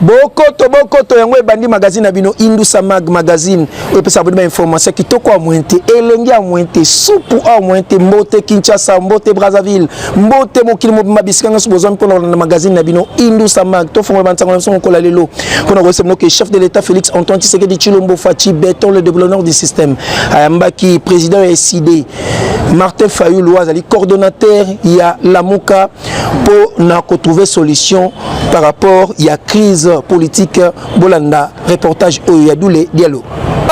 bokoto bokoto yango ebandi magazine na bino indusa mag magazine oyo epesaka bino bainformation kitoko ya moyen te elengi ya moyen te supu ya moyen te mbote kinshasa mbote brazzaville mbote mokili mobimba bisika nyonso bozwa mpo na kolanda magazine na bino indusa mag tofongola bansango na biso mokola lelo mpo na koyesa bino ke chef de l'état félix antoine tshisekedi tshilombo faci beton le développeur du système ayambaki président ya eside Martin Fayulu azali coordonnateur ya Lamuka pour na trouver solution par rapport à la crise politique bolanda reportage oyo ya Doule Diallo.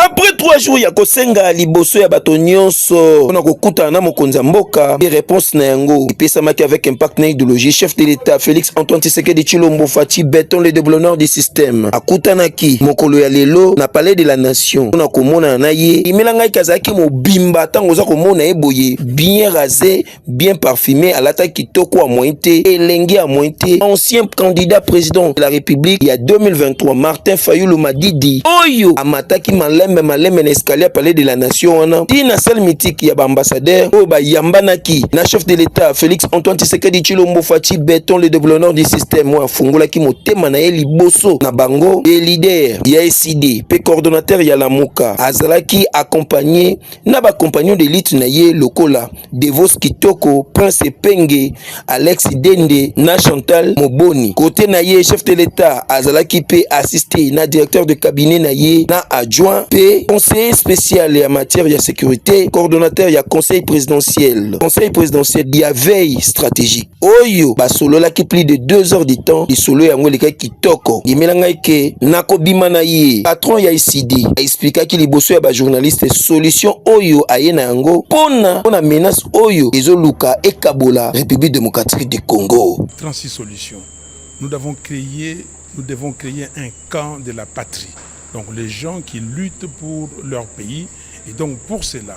Après trois jours ya kosenga liboso ya bato nyonso mpona kokutana na mokonzi ya mboka e réponse na yango epesamaki avec impact na idéologie chef de l'état Félix Antoine Tshisekedi Tshilombo Fatshi Beton le déblonneur du système akutanaki mokolo ya lelo na palais de la nation mpona komonana na ye imelangaki azalaki ye mobimba ntango oza komona ye boye bien rase bien parfume alata kitoko ya moyen te elenge ya moyen te ancien candidat président de la république ya 2023 martin fayulu madidi oyo amataki malembe malembe na escalier ya palais de la nation wana ti na salle mythique ya baambassadeur oyo bayambanaki na chef de l'état félix antoine tshisekedi tshilombo faci beton le deblonor du système oyo afungolaki motema na ye liboso na bango ye lider ya Aristide pe coordonnateur ya Lamuka azalaki accompagné na ba compagnons de lutte na ye lokola Devos Kitoko, Prince Epenge, Alex Dende na Chantal Moboni. Kote na ye chef de l'Etat azalaki pe assisté na directeur de cabinet na ye na adjoint pe conseiller spécial ya matière ya sécurité, coordonnateur ya conseil présidentiel, conseil présidentiel ya veille stratégique. oyo basololaki plus de 2 heures du temps lisolo yango elekaki kitoko ndimela ngai ke nakobima na ye patron ya icd aexplikaki liboso ya bajournaliste solution oyo aye na yango mpona mpona menace oyo ezoluka ekabola république démocratique du congo 36 solution nous avons créé nous devons créer un camp de la patrie donc les gens qui luttent pour leur pays et donc pour cela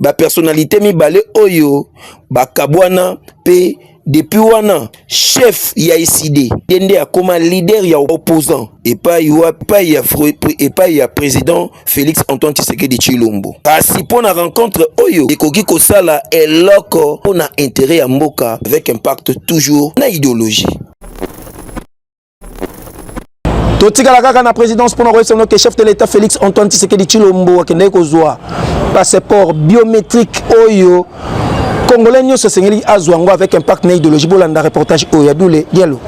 bapersonalite mibale oyo bakabwana mpe depuis wana chef ya eside ye nde akoma leader ya opposant epai wapai ya, epai ya président félix antoine tshisekedi tshilombo kasi mpo na rencontre oyo ekoki kosala eloko mpo na intérêt ya mboka avec impact toujours na idéologie totikala kaka na présidence mpona koyebisa bino ke chef de l'état félix antoine tisekedi chilombo akendaki kozwa passeport biométrique oyo congolais nyonso esengeli azwa yango avec impact na idéologie bolanda reportage oyo ya dule dialo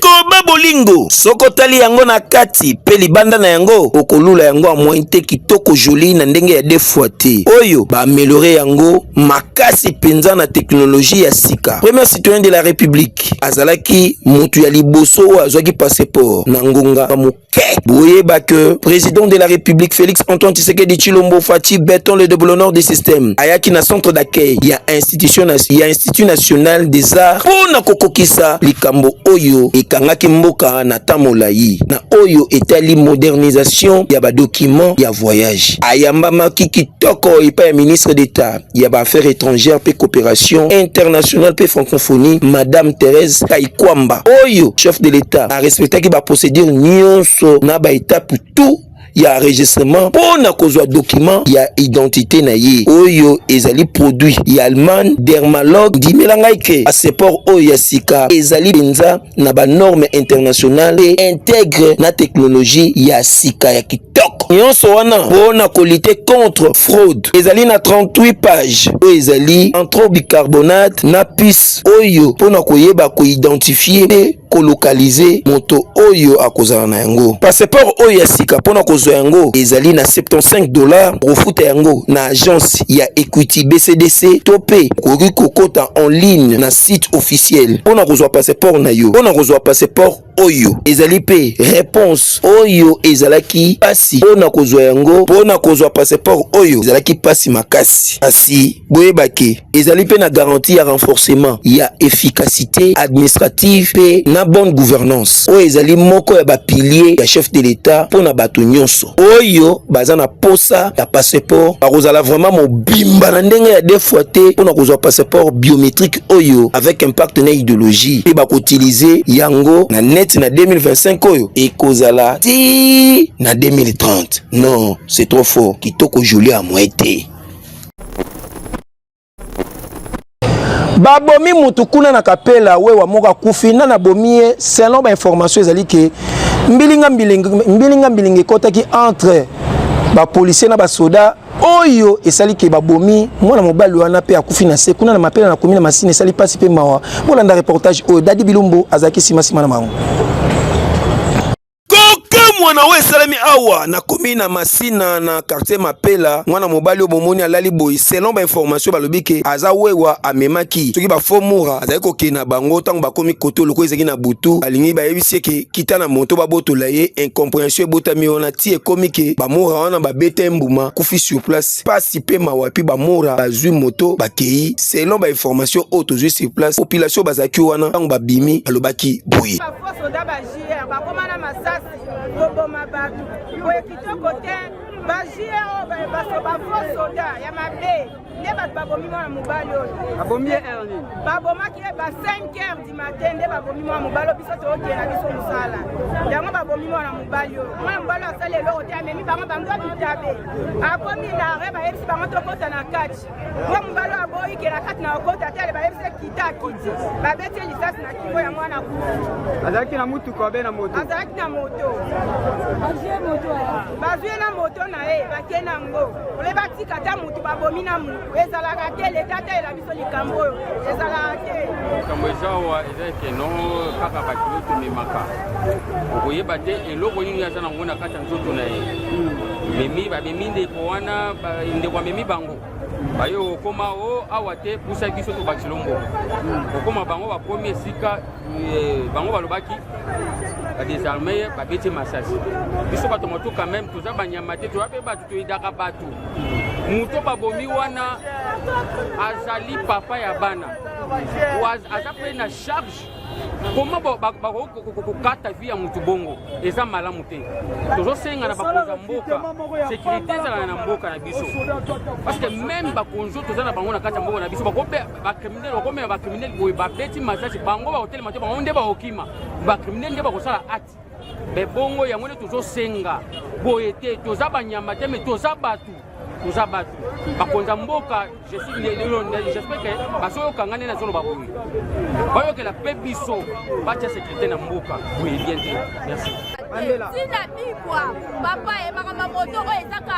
koba bolingo soko otali yango na kati mpe libanda na yango okolula yango ya moyen te kitoko joli na ndenge ya defoi te oyo baameliore yango makasi mpenza na teknoloji ya sika premier citoyen de la république Mike azalaki mutu ya liboso oyo azwaki passeport na ngonga moke. Boyeba que president de la République Félix Antoine Tshisekedi Chilombo Fatshi Beton le déboulonneur du système ayaki na centre d'accueil ya institution na, ya Institut national des arts mpo na kokokisa likambo oyo ekangaki mboka na temps molayi na oyo etali modernisation ya badokima ya voyage. Ayambamaki kitoko epai ya ministre d'État ya ba affaires étrangères pe coopération internationale pe francophonie madame Thérèse Kaikwamba oyo chef de l'État a respectaki ba procédures nyonso na ba étapes tout ya enregistrement mpo na kozwa dokima ya identité na ye oyo ezali produit ya allemagne dermalogue ndimela ngai ke passeport oyo ya sika ezali mpenza na ba normes internationales et intègre na technologie ya sika ya kitoko. Nyonso wana pona ko lutter contre fraude. Ezali na 38 pages oyo ezali entre bicarbonate na pisse oyo pona koyeba ko identifier pe kolokalize moto oyo akozala na yango. Passeport oyo ya sika mpo na kozwa yango ezali na 75 dollars. Okofuta yango na agence ya Equity BCDC to mpe okoki kokota en ligne na site officiel mpo na kozwa passeport na yo, mpo na kozwa passeport oyo ezali mpe reponse oyo ezalaki pasi mpo na kozwa yango, mpo na kozwa passeport oyo ezalaki pasi makasi. Kasi boyebaki ezali mpe na garantie ya renforcement ya efficacité administrative mpe na bonne gouvernance oyo ezali moko ya ba piliers ya chef de l'Etat mpo na bato nyonso. oyo baza na posa ya passeport akozala vraiment mobimba na ndenge ya deux fois te pona kozwa passeport biométrique oyo avec impact na ideologie pe bakotilize yango na net na 2025 oyo ekozala ti na 2030 non c'est trop fort kitoko jolie amwe te babomi mutu kuna na kapela wewa moko akufi na nabomi ye selon bainformation ezali ke mbilinga mbilinga mbilinga mbilinga ekotaki entre bapolisier na basoda oyo esali ke babomi mwana mobali wana mpe akufi na se kuna na mapela na komi na masini esali mpasi mpe mawa bolanda reportage oyo dadi bilumbu azalaki nsima nsima na bango kokamwa na oyo esalami awa nakomi na masina na quartier mapela mwana mobali oyo bomoni alali boye selon bainformation balobi ke aza wewa amemaki soki bafomura azali kokende na bango ntango bakomi koto loko ezalaki na butu alingi bayebisi ye ke kita na moto babotola ye incomprehension ebotami wana ti ekomi ke bamora wana babeta ye mbuma kufi sur place pasi mpe mawa epi bamora bazwi moto bakei selon bainformation oyo tozwi sur place population bazalaki wana ntango babimi alobaki boye JR bakoma na masasi koboma bato boye kitoko te ba JR oyo baso ba faux soda ya mabe nde bato babomi mwana mobali oyo babomi ye heure nini babomaki ye ba 5 heures du matin nde babomi mwana mobali oyo biso tookee na biso mosala yango babomi mwana mobali oyo mwana mobali oyo asali eloko te amemi bango bango bitabe akomi na re bayebisi bango tokota na kati mwa mobali aboyi kela kati na okota te ale bayebisa kita akiti babeti ye lisasi na kingo ya mwana kufi azalaki na motuka obe na moto azalaki na moto bazwi ye na moto na ye bake na yango ole batika ata motu babomi na motu ezalaka te leta ateyela biso likambo oyo ezalaka te likambo eza awa eza ekeno kaka bakilo tomemaka okoyeba te eloko nini aza na yango na kati nzoto na ye memi bamemi ndeko wana ndeko amemi bango baye okoma o awa te pusa biso tobakisi lombo okoma bango bakomi esika eh, bango balobaki badesarme ye babeti masasi biso bato motu quand même toza banyama te toza mpe bato toyidaka bato moto babomi wana azali papa ya bana aza mpe na charge koma bakoki kokata vi ya motu bongo eza malamu te tozosenga na bakonzi ya mboka sekirite ezala na mboka na biso parce que meme bakonzi oyo toza na bango na kati ya mboka na biso bakriminele bakomema bakriminele boye babeti masasi bango bakotelema te bango nde bakokima bakriminele nde bakosala acte me bongo yango nde tozosenga boye te toza banyama te me toza bato toza bato bakonza mboka jespere ke bazoyoka ngai nde nazoloba boye bayokela mpe biso batya sekurité na mboka boye bien te merci ntina bibwa papa ye makambo moto oyo ezaka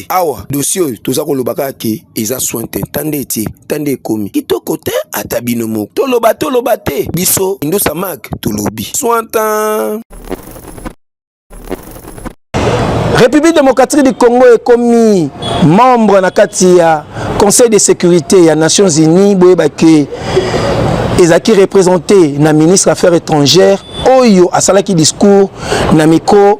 te awa dossier oyo toza koloba kaka ke eza soin te tande etie tande ekomi kitoko te ata bino moko toloba toloba te biso indusa mak tolobi soin tan république démocratique du congo ekomi membre na kati ya conseil de sécurité ya nations unies boyeba ke ezalaki représente na ministre affaires étrangères oyo asalaki discours na micro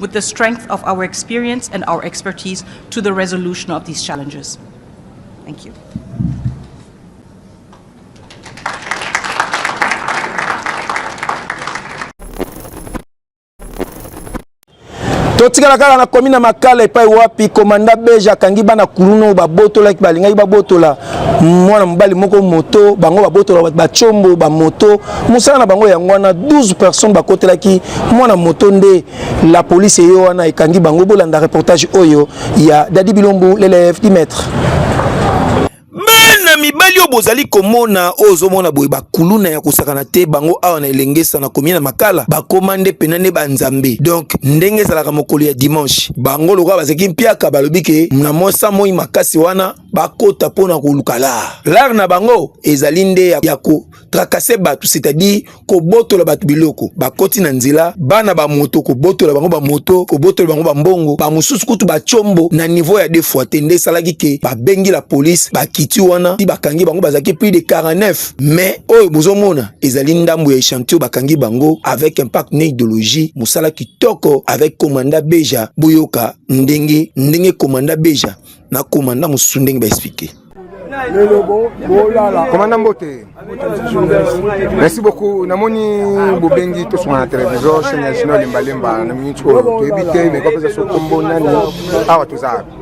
with the strength of our experience and our expertise to the resolution of these challenges. Thank you. totikala kaka na komi na makala epai wapi komanda beja akangi bana kuluna oyo babotolaki balingaki babotola mwana mobali moko moto bango babotola bato bacombo bamoto mosala na bango yango wana 12 personnes bakotelaki mwana moto nde la police eyo wana ekangi bango bolanda reportage oyo ya dadi bilombu lelf dimetre bana mibali oyo bozali komona oyo ozomona boye bakuluna ya kosakana te bango awa na elengesa na komi na makala bakoma nde mpena nde banzambe donk ndenge ezalaka mokolo ya dimanche bango lokola bazalaki mpiaka balobi ke na mosa moi makasi wana bakota mpo na koluka lar lar na bango ezali nde ya ko trakase bato c'est-à-dire kobotola bato biloko bakoti na nzela bana bamoto kobotola bango bamoto kobotola bango bambongo bamosusu kutu bacombo na niveau ya defoi te nde esalaki ke babengi la polise bakiti wana ti bakangi bango bazalaki plus de 49 mais oyo bozomona ezali ndambo ya echantio bakangi bango avec impact na idéologie mosala kitoko avec komanda beja boyoka ndenge ndenge komanda beja na koma nda mosusu ndenge ba expliquer komanda mbote merci beaucoup namoni bobengi tosonga na télévision chaine ya junior lembalemba na minute oyo toyebi te mais kopesa so kombo nani awa toza wapi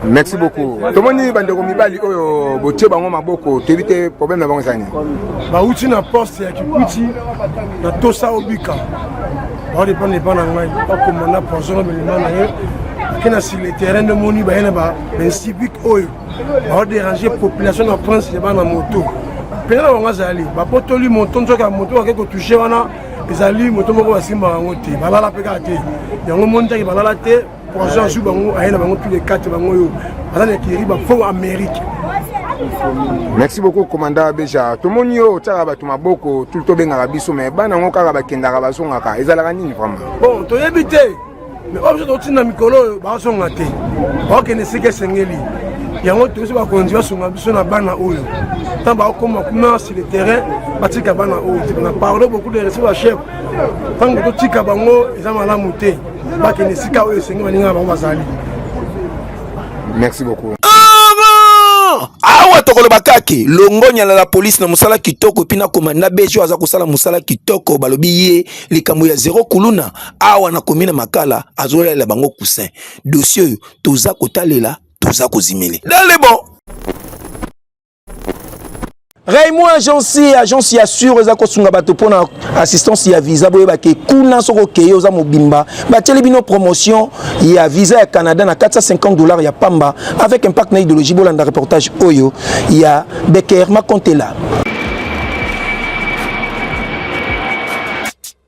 merci beaucoup tomoni bandeko mibali oyo botie bango maboko toyebi te problème na bango ezani bauti na poste ya kikwiti na tosa obika baodepana epa na ngai bakoma na poison na bilima na ye ake na sur le terrain nde moni baye na bainsibic oyo baoderange population na prince ya bana moto mpena na bango azali bapotoli moto nzoki ya moto bake kotouche wana ezali moto moko basimbaka yango te balala mpe kaka te yango moni taki balala te poison azwi bango aye na bango plus de 4 bango oyo baza na ekiri bafo amérique merci beaucoup commanda beja tomoni yo otyaka bato maboko tu tobengaka biso me bana yango kaka bakendaka bazongaka ezalaka nini vraiment bon toyebi te me oyo biso totinda mikolo oyo bazonga te bakokende esika esengeli yango toyebisi bakonzi basunga biso na bana oyo ntango bakokoma kuna sur le terrain batika bana oyo te na parle beaucoup de respect ba chef ntango totika bango eza malamu te bakende esika oyo esenge baninga na bango bazali merci beaucoup awa tokoloba kake longonya na la polise na mosala kitoko epi na komanda bejo aza kosala mosala kitoko balobi ye likambo ya zero kuluna awa na komi na makala azolalela bango kusin dosie oyo toza kotalela toza kozimele dalebo Raymond agence agence ya sur eza kosunga bato mpo na assistance ya visa boyebake kuna soki okeye oza mobimba batieli bino promotion ya visa ya canada na 450 dollars ya pamba avec impact na idéologie bolanda reportage oyo ya becker makontela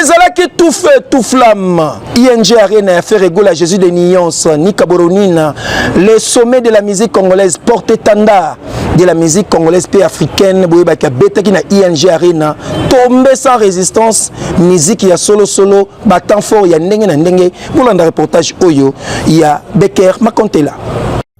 ezalaki tout feu tout flamme ing arena ya ferre egola jésus de nuance nika boronina le sommet de la musique congolaise porte étendard de la musique congolaise mpe africaine boyebaki abetaki na ing arena tombe sans résistance miziki ya solosolo batemp fort ya ndenge na ndenge bolanda reportage oyo ya becker makontela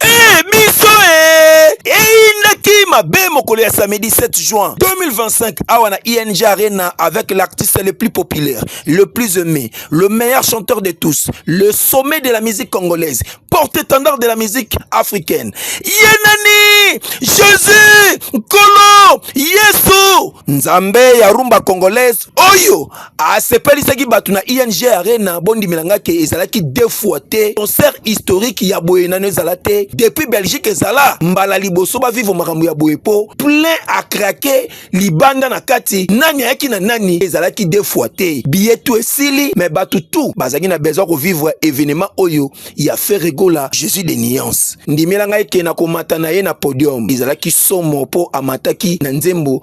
Hey, biso eh! eyindaki mabe mokolo ya samedi 7 juin 2025 awa na ing arena avec l'artiste le plus populaire le plus aimé le meilleur chanteur de tous le sommet de la musique congolaise porte-étendard de la musique africaine ye nani jésus nkolo yesu nzambe ya rumba congolaise oyo asepelisaki bato na ing arena bondimela ngai ke ezalaki deux fois te concert historique ya boye nano ezala te depuis belgique ezala mbala liboso bavivre makambo ya boye po plein akrake libanda na kati nani ayaki na nani ezalaki deux fois te biye tu esili me bato tu bazalaki na besoin kovivre evenement oyo ya ferregola jésus de nuance ndimela ngai ke na komata na ye na podium ezalaki somo po amataki na nzembo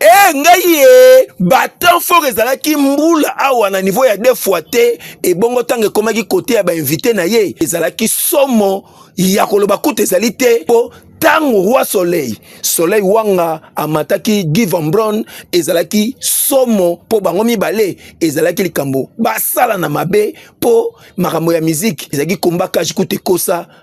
Eh, ngai ye eh, batemp fort ezalaki mbula awa na niveau ya deux fois te ebongo ntango ekomaki kote ya bainvite na ye ezalaki somo ya koloba kutu ezali te mpo ntango roi soleil soleil wanga amataki guy van bron ezalaki somo mpo bango mibale ezalaki likambo basala na mabe mpo makambo ya miziki ezalaki komba kaji kutu ekosa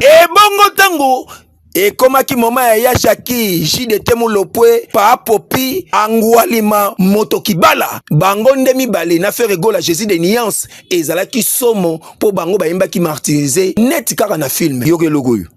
ebongo ntango ekomaki moma ya yashaki jdt mulopwe paapopi angualima moto kibala bango nde mibale na fere gola jésus de niance ezalaki somo mpo bango bayembaki martirise neti kaka na filme yoka eloko oyo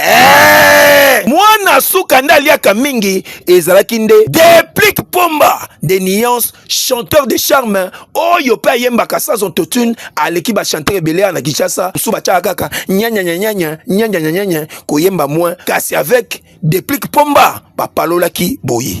Eh! mwana suka nde aliaka mingi ezalaki nde deplic pomba de nuance chanteur de charme oyo mpe ayembaka sans autotune aleki bachanteur ebele ya na kinshasa mosusu batiaka kaka nyanyanyanyanya nyanyanyanyanya koyemba moins kasi avec deplic pomba bapalolaki boye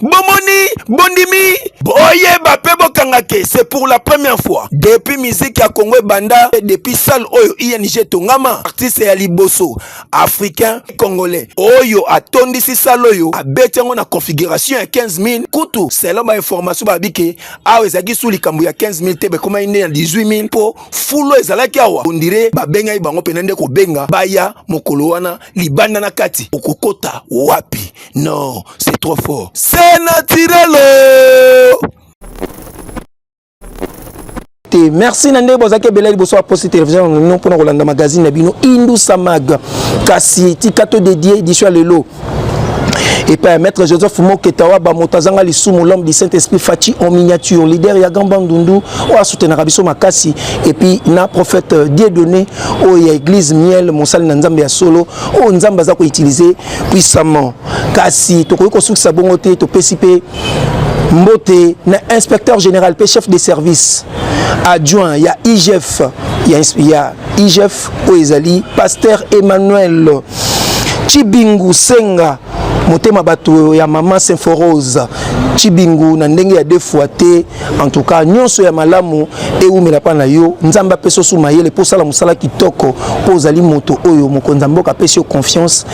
bomoni bondimi boyeba mpe bokanga ke c'est pour la première fois depuis musique ya congo ebanda depuis salle oyo ing etongama artiste ya liboso africain congolais oyo atondisi salle oyo abeti yango na configuration ya 15 000 kutu selon bainformation balobi ke awa ezalaki su likambo ya 15 000 te bekomaki nde ya 18 000 mpo fulo ezalaki awa ondire babengaki bango mpena nde kobenga baya mokolo wana libanda na kati okokota wapi Non, c'est trop fort. C'est naturel. Oh. te merci na ndenge bozalaki ebele liboso baposti télévision yango bino mpona kolanda magazine na bino indusa mag kasi tika to dédie édition ya lelo epai ya maître joseph moketawa bamoto azanga lisumu l'homme du saint esprit faci en miniature leader ya gamba ndundu oyo asutenaka biso makasi epuis na prophète euh, dieu donné oyo ya église miel mosali na nzambe ya solo oyo nzambe aza koutilize puissamment kasi tokoki kosukisa bongo te topesi mpe mbote na inspecteur général mpe chef de service adjoint ya igf ya, ya igf oyo ezali pasteur emmanuel chibingu senga motema bato ya mama symphorose chibingu na ndenge ya defoi te en tout cas nyonso ya malamu ewumela mpa na yo nzambe apesa osu mayele mpo osala mosala kitoko mpo ozali moto oyo mokonzi ya mboka apesi yo confiance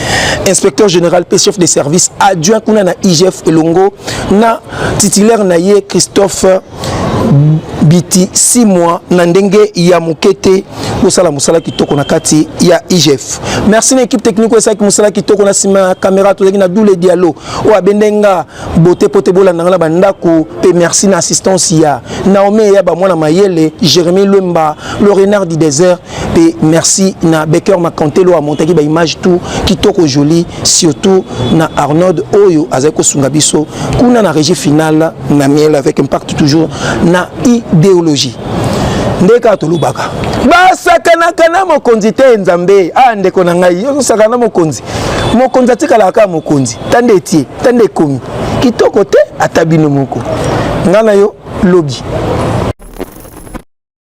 inspecteur général mpe chef de service adjoint kuna na igf elongo na titulaire na ye christophe biti 6 mois na ndenge ya moke te bosala mosala kitoko na kati ya igf merci na équipe technique oyo esalaki mosala kitoko na nsima ya kamera tozalaki na doule dialo oyo abende nga Bote pote bolanda nga na bandako pe merci na assistance ya Naomi ya ba mwana mayele Jérémy Lemba le renard du désert pe merci na Baker Makantelo a montaki ba image tout kitoko joli surtout na Arnold oyo azali kosunga biso kuna na régie finale na miel avec impact toujours na idéologie nde kaka tolobaka basakanaka na mokonzi te nzambe a ah, ndeko na ngai osakana na mokonzi mokonzi atikalaka kaka mokonzi ta nde etie tande ekomi kitoko te ata bino moko nga na yo lobi